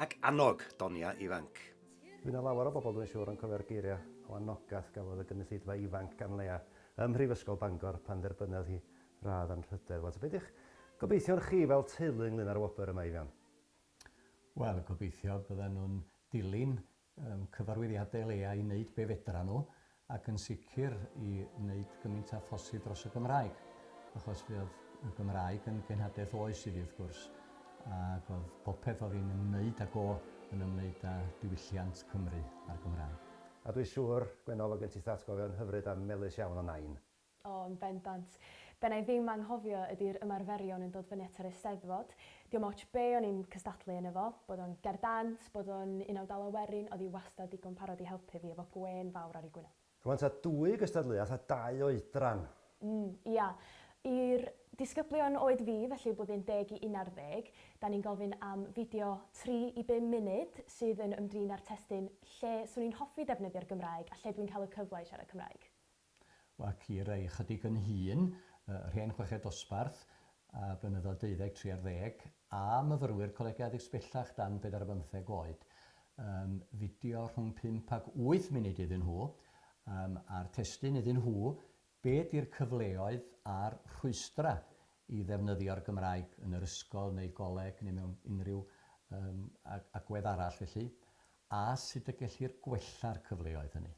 Ac annog donia ifanc. Fydd 'na lawer o bobl dwi'n siŵr yn cofio'r geiriau o anogaeth gafodd y gynulleidfa ifanc gan Leah ym Mhrifysgol Bangor pan dderbynodd hi radd anrhydedd. Wel, ta be' 'di'ch gobeithion chi fel teulu ynglŷn â'r wobr yma, Eifion? Wel, gobeithio byddan nhw'n dilyn Ym cyfarwyddiadau leia i wneud be fedran nhw ac yn sicr i wneud gymint a phosib dros y Gymraeg achos fe oedd y Gymraeg yn genhadaeth oes i fi wrth gwrs ac oedd popeth oedd i'n ymwneud ag o yn ymwneud â diwylliant Cymru a'r Gymraeg. A dwi siŵr, Gwenno, fo gen ti thatgofion hyfryd a melys iawn o Nain. O, yn bendant. Be wna i ddim anghofio ydy'r ymarferion yn dod fyny at yr Eisteddfod. Diom otsh be o'n i'n cystadlu yno fo, bod o'n ger dant, bod o'n Unawd Dala Werin, oedd hi wastad digon parod i helpu fi efo gwên fawr ar ei gwyneb. Rwan ta dwy gystadleuaeth a dau oedran. Mm, ia. I'r disgyblion oed fi, felly blwyddyn deg i unarddeg, da ni'n gofyn am fideo tri i bum munud sydd yn ymdrin â'r testun 'Lle 'swn i'n hoffi defnyddio'r Gymraeg a lle dwi'n cael y cyfle i siarad Cymraeg? ac i rai ychydig yn hŷn, rhên chweched dosbarth a blynyddoedd deuddeg, tri ar ddeg, a myfyrwyr Coleg Addysg Bellach dan bedair ar bymtheg oed. Yym, fideo rhwng pump ac wyth munud iddyn nhw, yym, a'r testun iddyn nhw, Be 'di'r cyfleoedd a'r rhwystrau i ddefnyddio'r Gymraeg yn yr ysgol neu goleg neu mewn unrhyw yym agwedd arall felly, a sut y gellir gwella'r cyfleoedd hynny?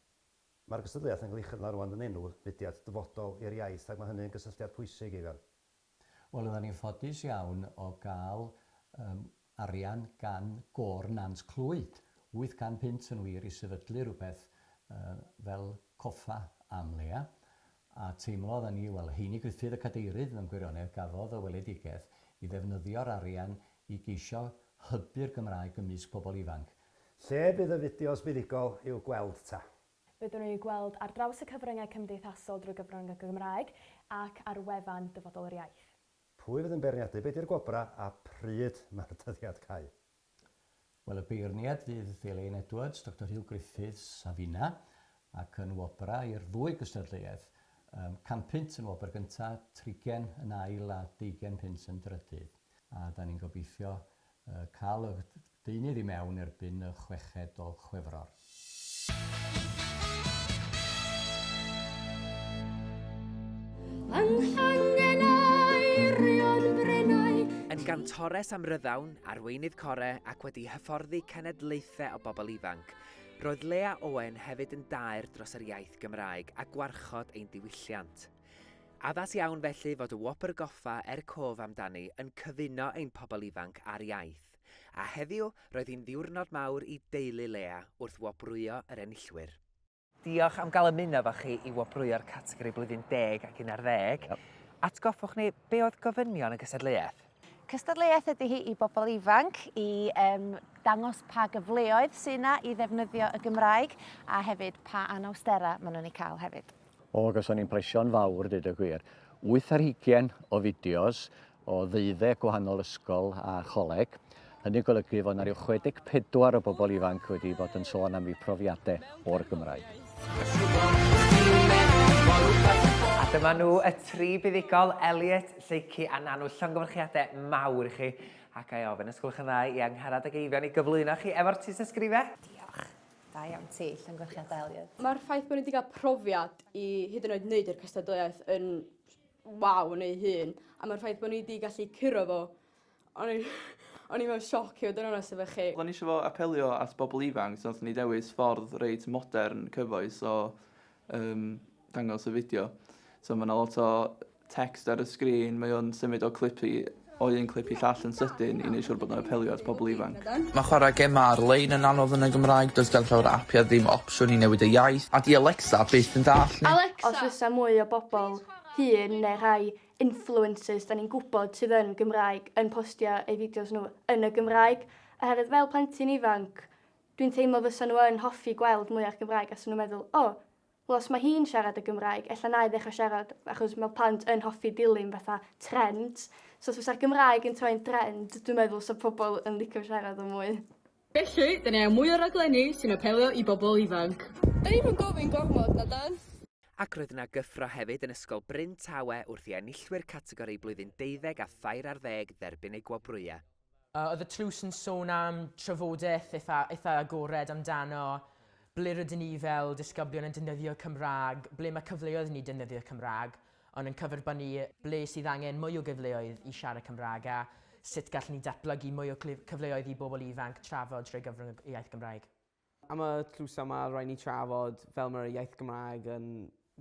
Mae'r gystadleuaeth yn cael ei chynnal rŵan yn enw fudiad dyfodol i'r iaith ac mae hynny yn gysylltiad pwysig, Eifion. Wel, oeddan ni'n ffodus iawn o gael yym arian gan Gôr Nant Clwyd, 800 punt yn wir, i sefydlu rhywbeth yy fel coffa am leia'. A teimlodd a ni, wel, Heini Gruffydd y Cadeirydd mewn gwirionedd gafodd y weledigaeth i ddefnyddio'r arian i geisio hybu'r Gymraeg ymysg pobl ifanc. Lle bydd y fideos buddugol i'w gweld 'ta? Byddwn yn eu gweld ar draws y cyfryngau cymdeithasol drwy gyfrwng y Gymraeg ac ar wefan Dyfodol yr Iaith. Pwy fydd yn beirniadu, be 'di'r gwobrau a pryd mae'r dyddiad cau? Wel, y beirniad fydd Elaine Edwards, Doctor Huw Griffiths a finna, ac yn wobrau i'r ddwy gystadleuaeth, yym, can punt yn wobr gynta, trigen yn ail a deugen punt yn drydydd. A 'dan ni'n gobeithio yy ca'l y deunydd i mewn erbyn y chweched o Chwefror. Yn gantores amryddawn, arweinydd core ac wedi hyfforddi cenedlaethau o bobl ifanc, roedd Lea Owen hefyd yn daer dros yr iaith Gymraeg a gwarchod ein diwylliant. Addas iawn felly fod y Wobr Goffa er Cof amdani yn cyfuno ein pobl ifanc a'r iaith. A heddiw, roedd hi'n ddiwrnod mawr i deulu Lea wrth wobrwyo yr enillwyr. Diolch am gael ymuno efo chi i wobrwyo'r categori blwyddyn deg ac un ar ddeg. Atgoffwch ni, be oedd gofynion y gystadleuaeth? Cystadleuaeth ydy hi i bobl ifanc i yym dangos pa gyfleoedd sy' 'na i ddefnyddio y Gymraeg a hefyd pa anawsterau maen nhw'n eu cael hefyd. O, gawson ni impresio'n fawr, deud y gwir. Wyth ar hugain o fideos, o ddeuddeg gwahanol ysgol a choleg. Hynny'n golygu fod yna rhyw 64 o bobl ifanc wedi bod yn sôn am eu profiadau o'r Gymraeg. A dyma nhw y tri buddugol, Elliot, Lleucu a Nanw. Llongyfarchiadau mawr i chi. Ac a'i ofyn, os gwelwch yn dda, i Angharad ac Eifion i gyflwyno chi efo'r tystysgrifau. Diolch. Da iawn ti, llongyfarchiadau Elliot. Mae'r ffaith bod nhw wedi cael profiad i hyd yn oed wneud yr cystadleuaeth yn waw yn ei hun a ma'r ffaith bo' ni 'di gallu curo fo o'n i o'n i mewn sioc i fod yn onest efo chi. Oddan ni isio fo apelio at bobol ifanc so nathon ni dewis ffordd reit modern cyfoes o yym dangos y fideo. So ma' 'na lot o text ar y sgrîn mae o'n symud o clip i o un clip i llall yn sydyn i wneud siwr bod nhw'n apelio at pobl ifanc. Mae chwarae gemau ar-lein yn anodd yn y Gymraeg, does gan llawer o apiau ddim opsiwn i newid y iaith, a 'di Alexa byth yn dallt ni. Os fysa mwy o bobl hŷn neu rhai influencers 'da ni'n gwybod sydd yn Gymraeg yn postio eu fideos nhw yn y Gymraeg, oherwydd fel plentyn ifanc dwi'n teimlo fysa nhw yn hoffi gweld mwy o'r Gymraeg a 'sa nhw'n meddwl 'o, Wel os mae hi'n siarad y Gymraeg, ella na i ddechrau siarad, achos mae plant yn hoffi dilyn fatha trend. So os fysa'r Gymraeg yn troi'n drend, dwi'n meddwl fysa pobl yn licio siarad o mwy. Felly, dan ni angen mwy o raglenni sy'n apelio i bobl ifanc. Dan ni'm yn gofyn gormod, na 'dan? Ac roedd yna gyffro hefyd yn Ysgol Bryn Tawe wrth i enillwyr categori blwyddyn deuddeg a thair ar ddeg dderbyn eu gwobrwyau. Yy oedd y tlws yn sôn am trafodaeth eitha eitha agored amdano ble rydyn ni fel disgyblion yn defnyddio Cymraeg, ble mae cyfleoedd i ni defnyddio Cymraeg, ond yn cyferbynnu ble sydd angen mwy o gyfleoedd i siarad Cymraeg a sut gallwn ni datblygu mwy o cyfleoedd i bobl ifanc trafod trwy gyfrwng y iaith Gymraeg. Am y tlo yma, rhaid ni trafod fel mae'r iaith Gymraeg yn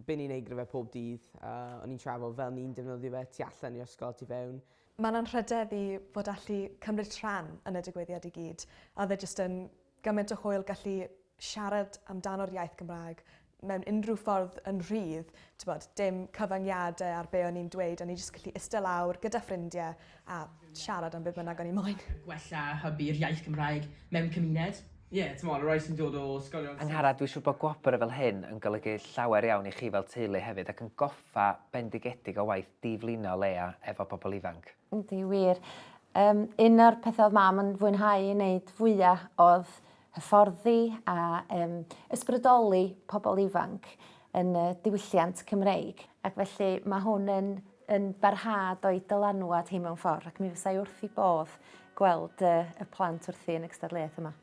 byn ni'n ei gryfhau pob dydd. O'n i'n trafod fel ni'n defnyddio fe tu allan i'r ysgol a tu fewn. Mae'n anrhydedd i fod allu cymryd rhan yn y digwyddiad i gyd, a oedd e jyst yn gymaint o hwyl gallu siarad amdano'r iaith Gymraeg mewn unrhyw ffordd yn rhydd t'bod dim cyfyngiade ar be' o'n i'n dweud o'n i jyst gallu iste lawr gyda ffrindie a siarad am be' bynnag o'n i moyn. Gwella hybu'r iaith Gymraeg mewn cymuned. Ie, t'mod, y rai sy'n dod o ysgolion... Angharad, dwi siŵr bod gwobr fel hyn yn golygu llawer iawn i chi fel teulu hefyd ac yn goffa bendigedig o waith diflino Leah efo pobl ifanc. Yndi, wir. Um, un o'r pethau oedd mam yn fwynhau yn neud fwya oedd hyfforddi a um, ysbrydoli pobl ifanc yn y diwylliant Cymreig. Ac felly mae hwn yn, yn barhad o'i dylanwad hi mewn ffordd ac mi fysa'i wrth i bodd gweld uh, y plant wrthi yn y cystadleuaeth yma.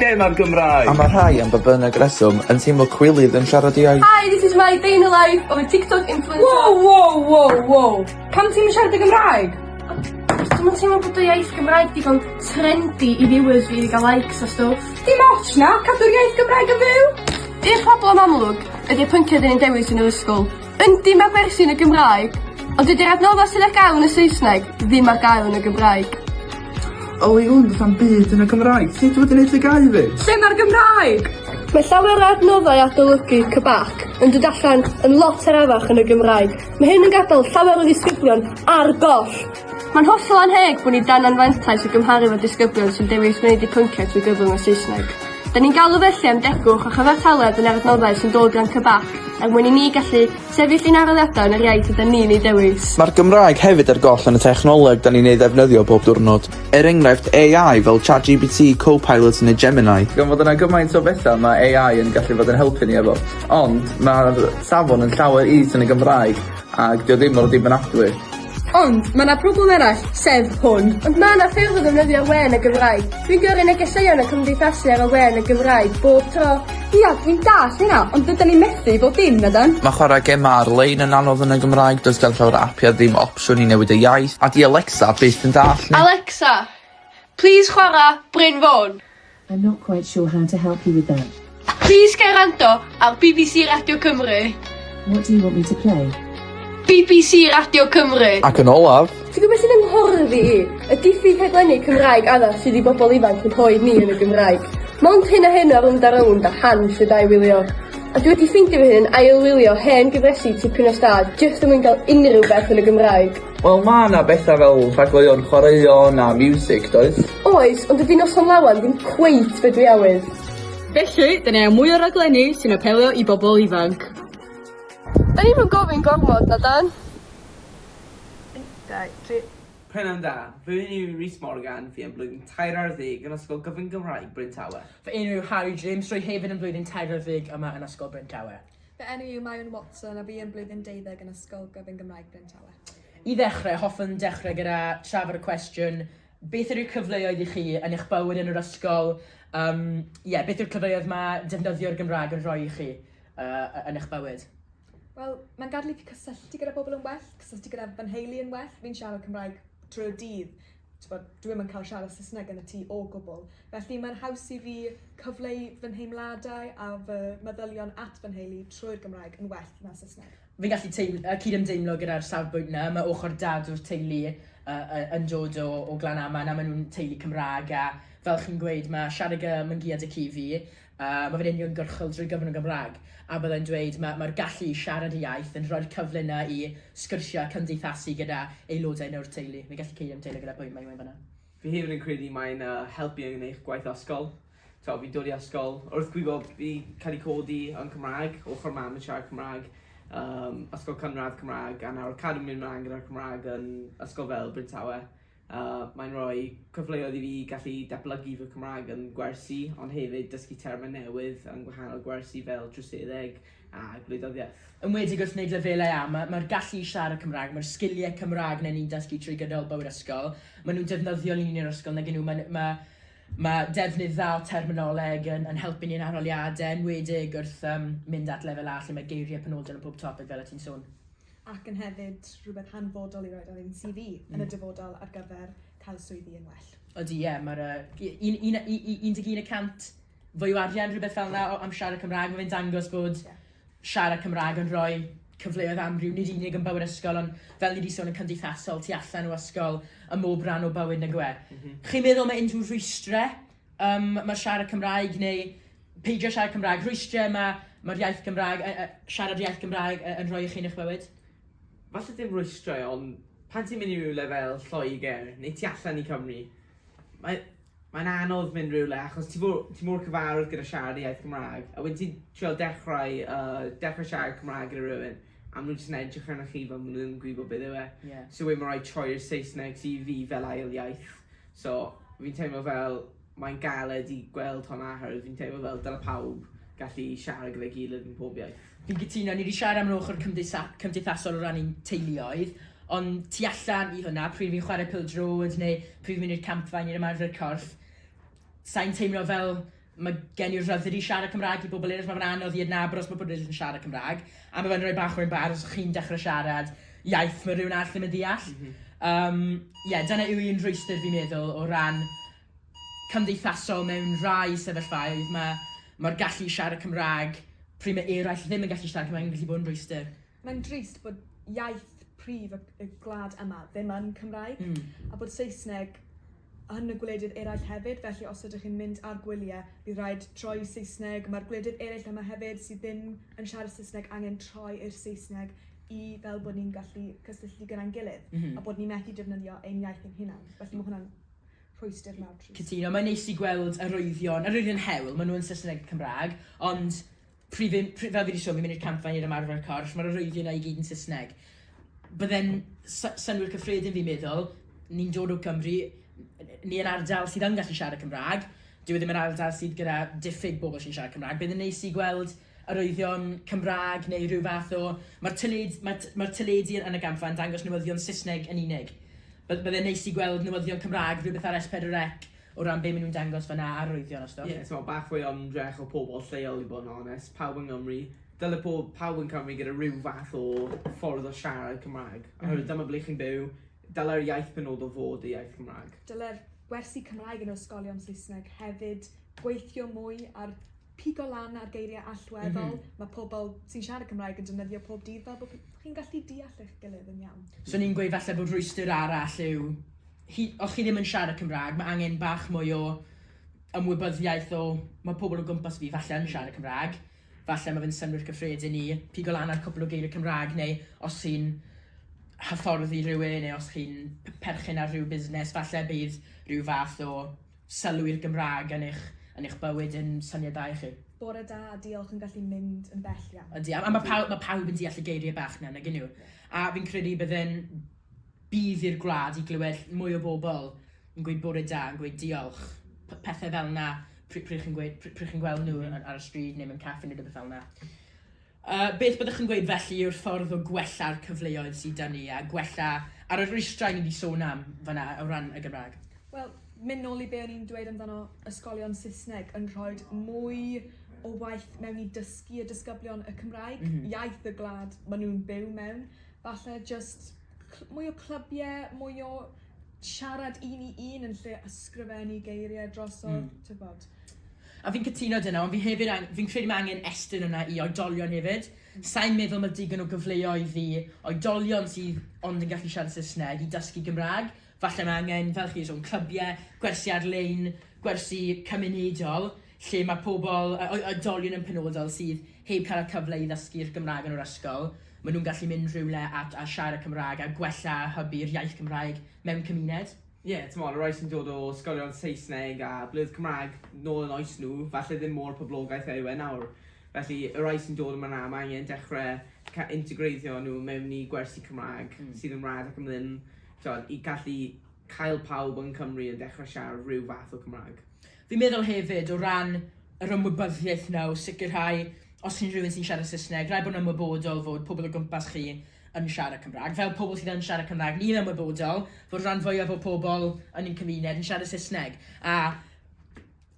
Lle ma'r Gymraeg? A ma' rhai am ba bynnag reswm yn teimlo cwilydd yn siarad eu iaith. Hi this is my day in the life of a tiktok influencer. Wow wow wow wow. Pam ti'm yn siarad y Gymraeg? Achos dwi'm yn teimlo bod y iaith Gymraeg digon trendy i viewers fi i ga'l likes a stwff. Dim otsh na! Cadw'r iaith Gymraeg yn fyw! Un problem amlwg ydi y pynciau 'dyn ni'n dewis yn yr ysgol. Yndi ma' gwersi yn y Gymraeg ond dydi'r adnodda' sydd ar gael yn y Saesneg ddim ar gael yn y Gymraeg. O i wn sa'm byd yn y Gymraeg. Sut wyt ti'n neud dy gau 'fyd? Lle ma'r Gymraeg? Mae llawer o adnoddau adolygu cybac yn dod allan yn lot arafach yn y Gymraeg. Mae hyn yn gadael llawer o ddisgyblion ar goll. Mae'n hollol annheg bo' ni dan anfantais i gymharu 'fo disgyblion sy'n dewis gwneud eu pynciau trwy gyfrwng y Saesneg. 'Dyn ni'n galw felly am degwch a chyfartaledd yn yr adnoddau sy'n dod gan CBAC er mwyn i ni gallu sefyll i'n aroliadau yn yr iaith ydan ni'n ei dewis. Mae'r Gymraeg hefyd ar goll yn y technoleg 'dan ni'n ei ddefnyddio bob diwrnod. Er enghraifft, AI fel ChatGPT, Copilot neu Gemini. Gan fod yna gymaint o betha ma' AI yn gallu bod yn helpu ni efo. Ond ma'r safon yn llawer is yn y Gymraeg ag 'di o ddim mor ddibynadwy. Ond, mae 'na problem arall, sef hwn. Ond mae 'na ffyrdd o ddefnyddio we yn y Gymraeg. Dwi'n gyrru negeseuon a cymdeithasu ar y we yn y Gymraeg bob tro. Ia, dwi'n dallt hynna, ond dydan ni'n methu bob dim, nadan? Mae chwarae gemau ar-lein yn anodd yn y Gymraeg, does gan llawer o apiau ddim opsiwn i newid y iaith, a 'di Alexa byth yn dallt ni. Alexa, plis chwarae Bryn Fôn. I'm not quite sure how to help you with that. Plis cer rando ar bbc Radio Cymru. What do you want me to play? bbc Radio Cymru. Ac yn olaf, Ti'n gwybod beth sy'n ymhordd i? Y diffyg rhaglenni Cymraeg addas sydd i bobl ifanc yn rhoi ni yn y Gymraeg. Mond hyn a hyn o rownd a rownd a han sydd a'i wylio. A dwi wedi ffeindio fy hun yn ail-wylio hen gyfresi tipyn o stad jyst er mwyn cael unrhyw beth yn y Gymraeg. Wel ma' 'na betha fel rhagleuon chwaraeon a miwsig does? Oes, ond dydi Noson Lawen ddim cweit be' dwi awydd. Felly, 'dyn ni angen mwy o raglenni sy'n apelio i bobl ifanc. 'Dan ni'm yn gofyn gormod, na 'dan? Pnawn da, fy enw yw Rhys Morgan, fi yn blwyddyn tair ar ddeg yn Ysgol Gyfun Gymraeg Bryn Tawe. Fy enw yw Harri James, rwy hefyd yn blwyddyn tair ar ddeg yma yn Ysgol Bryn Tawe. Fy enw yw Maen Watson a fi yn blwyddyn deuddeg yn Ysgol Gyfun Gymraeg Bryntalet. I ddechrau, hoffwn dechrau gyda trafod y cwestiwn, beth yw'r cyfleoedd i chi yn eich bywyd yn yr ysgol? Yym, ie, beth yw'r cyfleoedd mae defnyddio'r Gymraeg yn rhoi i chi yy yn eich bywyd? Wel, mae'n gadael i fi cysylltu gyda pobl yn well, cysylltu gyda fy nheulu yn well, fi'n siarad Cymraeg trwy'r dydd, Tibod, dwi ddim yn cael siarad Saesneg yn y tŷ o gwbl, felly mae'n haws i fi cyfleu fy nheimladau a fy meddylion at fy nheulu trwy'r Gymraeg yn well na Saesneg. Fi'n gallu cydymdeimlo gyda'r safbwynt 'na. Mae ochr dad o'r teulu yn dod o Glanaman a maen nhw'n teulu Cymraeg a fel chi'n gweud, mae siarad Gymraeg yn giât y ci i fi. Mae fe'n uniongyrchol drwy gyfrwng y Gymraeg, a byddai'n dweud, mae mae'r gallu i siarad y iaith yn rhoi'r cyfle 'na i sgwrsio a cymdeithasu gyda aelodau neu'r teulu. Fi'n gallu ceidio'n deulu gyda pwy mae unwaith fan'na. Fi hefyd yn credu mae e'n helpu yn eich gwaith ysgol. T'wod, fi'n dod i ysgol, wrth gwybod fi cael ei codi yn Cymraeg, ochr mam yn siarad Cymraeg, ysgol cynradd Cymraeg, a nawr cadw'n mynd mlaen gyda'r Cymraeg yn ysgol fel Bryn Tawe. a mae'n rhoi cyfleoedd i fi gallu datblygu fy Cymraeg yn gwersi, ond hefyd dysgu termau newydd yn gwahanol gwersi fel troseddeg a gwleidyddiaeth. Enwedig wrth wneud lefelau A, mae'r ma gallu i siarad Cymraeg, mae'r sgiliau Cymraeg na ni'n dysgu trwy gydol bywyd ysgol, maen nhw'n defnyddiol i ni yn yr ysgol nag y'n nhw, mae ma, ma defnydd dda o terminoleg yn, yn helpu ni yn arholiadau, enwedig wrth um, mynd at lefel A lle mae geiriau penodol yn pob topeg fel y ti'n sôn. ac yn hefyd rhywbeth hanfodol i roid ar ein CV yn y dyfodol ar gyfer cael swyddi yn well. Ydy, ie, mae'r yy un- un- u- u- 11 y cant fwy o arian, rhywbeth fel 'na, o- am siarad Cymraeg. Mae fe'n dangos bod Ie. siarad Cymraeg yn rhoi cyfleoedd amryw, nid unig yn bywyd ysgol, ond fel ni wedi sôn, yn cymdeithasol, tu allan o ysgol, ym mhob rhan o bywyd, nag yw e? Chi'n meddwl mae unrhyw rhwystrau Yym, mae siarad Cymraeg neu peidio siarad Cymraeg, rhwystrau ma' ma'r iaith Gymraeg yy yy siarad iaith Gymraeg yy yn rhoi i chi yn eich bywyd? Falle dim rhwystrau ond pan ti'n mynd i rywle fel Lloegr neu tu allan i Cymru mae mae'n anodd mynd rywle achos ti fo- ti mor cyfarwydd gyda siarad y iaith Gymraeg a wedyn ti'n trio dechrau yy dechrau siarad Cymraeg gyda rywun a ma' nhw jyst yn edrych arnoch chi fel ma' nhw ddim yn gwybod beth yw e... Ie. ...so wedyn ma' raid troi'r Saesneg sy i fi fel ail iaith. So, fi'n teimlo fel mae'n galed i gweld hwnna oherwydd fi'n teimlo fel dyle pawb gallu siarad gyda'i gilydd yn pob iaith. Fi'n cytuno, ni 'di siarad am yr ochr cymdeitha- cymdeithasol o ran ein teuluoedd, ond tu allan i hwnna, pryd fi'n chwarae pêl-droed neu pryd fi'n mynd i'r campfa i wneud ymarfer corff, sa i'n teimlo fel Mae gen i'r rhyddid i siarad Cymraeg i bobl eraill. Mae fe'n anodd i adnabod os mae pobl eraill yn siarad Cymraeg. A mae fe'n rhoi bach o embarras os chi'n dechrau siarad iaith mae rhywun arall ddim yn ddeall. Mm -hmm. um, yeah, dyna yw un rhwystr fi'n meddwl o ran cymdeithasol mewn rhai sefyllfaoedd. Mae mae'r gallu i siarad Cymraeg pryd mae eraill ddim yn gallu siarad Cymraeg yn gallu bod yn rhwystr. Mae'n drist bod iaith prif y, y gwlad yma ddim yn Cymraeg mm. a bod Saesneg yn y gwledydd eraill hefyd, felly os ydych chi'n mynd ar gwyliau bydd rhaid troi i Saesneg. Mae'r gwledydd eraill yma hefyd sydd ddim yn siarad Saesneg angen troi i'r Saesneg i fel bod ni'n gallu cysylltu gyda'n gilydd a bod ni methu defnyddio ein iaith ein hunain. Felly mae hwnna'n rhwystr mawr trist. Cytuno, mae'n neis i gweld arwyddion, arwyddion hewl, maen nhw yn Saesneg ac Cymraeg, ond Pryd fi'n, pryd, fel fi di sôn, fi'n mynd i'r campfa i neud ymarfer corff, ma'r arwyddion na i gyd yn Saesneg. Bydde'n sy- synnwyr cyffredin fi'n meddwl, ni'n dod o Cymru, ni yn ardal sydd yn gallu siarad Cymrâg, dyw e ddim yn ardal sydd gyda diffyg bobl sy'n siarad Cymrâg, bydd yn neis i gweld arwyddion Cymrâg neu rhyw fath o, ma'r tyled- ma' t- ma'r teledu yn y gampfa yn dangos newyddion Saesneg yn unig. By- bydde'n neis i gweld newyddion Cymrâg, rhywbeth ar S4C, O ran be maen nhw'n dangos fan'na a arwyddion a stwff. Ie, timod, bach fwy o ymdrech o pobl lleol i bod yn onest. Pawb yng Nghymru, dyle pob, pawb yn Cymru gyda rhyw fath o ffordd o siarad Cymraeg. Oherwydd dyma ble chi'n byw, dyle'r iaith penodol fod y iaith Gymraeg. Dyle'r gwersi Cymraeg yn yr ysgolion Saesneg hefyd gweithio mwy ar pigo lan ar geiriau allweddol, mae pobl sy'n siarad Cymraeg yn defnyddio pob dydd fel bod chi'n gallu deall eich gilydd yn iawn. Swn i'n gweud falle bod rhwystr arall yw, chi, os chi ddim yn siarad Cymraeg, mae angen bach mwy o ymwybyddiaeth o, mae pobl o gwmpas fi falle yn siarad Cymraeg, falle mae fe'n synnwyr cyffredin i pigo lan ar cwpl o geiriau Cymraeg, neu os chi'n hyfforddi rhywun, neu os chi'n perchen ar rhyw busnes, falle bydd rhyw fath o Sylw i'r Gymraeg yn eich yn eich bywyd yn syniadau chi. Bore da, diolch yn gallu mynd yn bell iawn. Ydy, a mae pawb, mae pawb yn deall y geiriau bach na, nag yn nhw? A fi'n credu bydd yn budd i'r gwlad i glywed mwy o bobl yn gweud bore da, yn gweud diolch, pethau fel yna, pryd chi'n gweud, pryd chi'n gweld nhw ar y stryd neu mewn caffi neu rhywbeth fel yna. Beth byddwch yn gweud felly yw'r ffordd o gwella'r cyfleoedd sydd 'da ni a gwella ar y rwystrau ni 'di sôn am fan'na o ran y Gymraeg? Wel, mynd nôl i be' o'n i'n dweud amdano ysgolion Saesneg yn rhoid mwy o waith mewn i dysgu y disgyblion y Cymraeg, iaith y gwlad ma' nw'n byw mewn, falle jyst cl- mwy o clybiau, mwy o siarad un i un yn lle ysgrifennu geirie drosodd, t'bod. A fi'n cytuno 'da 'na, ond fi hefyd ang- fi'n credu mae angen estyn hwnna i oedolion hefyd. Sai'n meddwl mae digon o gyfleoedd i oedolion sydd ond yn gallu siarad Saesneg i dysgu Gymraeg. Falle mae angen, fel chi wedi sôn, clybiau, gwersi ar-lein, gwersi cymunedol, lle mae pobl, o- o- oedolion yn penodol, sydd heb cael y cyfle i ddysgu'r Gymraeg yn yr ysgol, maen nhw'n gallu mynd rhywle a, a siarad Cymraeg a gwella hybu'r iaith Gymraeg mewn cymuned. Ie, t'mod, y rai sy'n dod o ysgolion Saesneg a ble oedd Cymraeg nôl yn oes nhw, falle ddim mor poblogaidd a yw e nawr. Felly, y rai sy'n dod yma nawr, mae angen dechre ca- integreiddio nhw mewn i gwersi Cymraeg sydd yn wlad ac am ddim, t'mod, i gallu cael pawb yn Cymru yn dechre siarad rhyw fath o Cymraeg. Fi'n meddwl hefyd, o ran yr ymwybyddiaeth 'na o sicrhau, os chi'n rhywun sy'n siarad Saesneg, rhaid bod yn ymwybodol fod pobl o gwmpas chi yn siarad Cymraeg, fel pobl sydd yn siarad Cymraeg, ni'n ymwybodol fod rhan fwyaf o pobl yn ein cymuned yn siarad Saesneg, a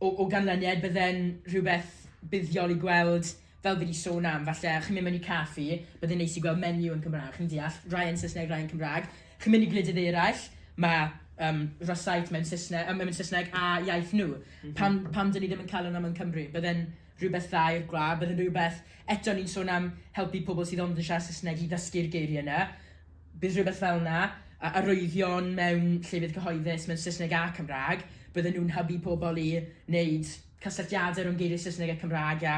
o, o ganlyniad bydde'n rhywbeth buddiol i gweld fel fi wedi sôn am, falle chi'n mynd mewn i caffi, byddai'n neis i gweld menu yn Cymraeg, chi'n deall, rai yn Saesneg, rai yn Cymraeg. Chi'n mynd i gwledydd eraill, mae um, Rosyth mewn Saesneg, um, mewn Saesneg a iaith nhw. Mm -hmm. Pam, pam dyn ni ddim yn cael hwnna mewn Cymru? Byddai'n Rhywbeth dda i'r gwlad, bydd yn rhywbeth, eto ni'n sôn am helpu pobl sydd ond yn siarad Saesneg i ddysgu'r geiriau yna, bydd rhywbeth fel yna, a arwyddion mewn llefydd cyhoeddus mewn Saesneg a Cymraeg, bydden nhw'n hybu pobl i wneud cysylltiadau rhwng geiriau Saesneg a Cymraeg a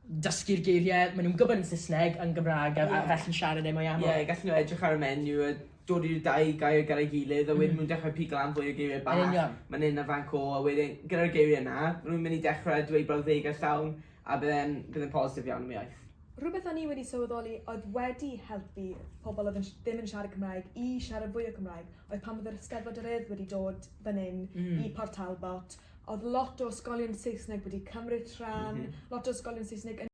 dysgu'r geiriau maen nhw'n gwybod yn Saesneg yn Gymraeg a, a felly'n siarad e mwy aml. Ie, gallen nhw edrych ar y menu a dod i'r dau gair gyda'i gilydd a wedyn mm. nhw'n dechrau pigo lan fwy o geiriau bach. Yn union. Mae'n un a fan co a wedyn gyda'r geiriau yna, rwy'n mynd i dechrau dweud brawddegau llawn a byddai'n byddai'n positif iawn am iaith. Rhywbeth o'n i wedi sylweddoli oedd wedi helpu pobl oedd yn, ddim yn siarad Cymraeg i siarad fwy o Cymraeg oedd pan oedd yr Eisteddfod yr Urdd wedi dod fan hyn mm. i Port Talbot oedd lot o ysgolion Saesneg wedi cymryd rhan, mm -hmm. lot o ysgolion Saesneg yn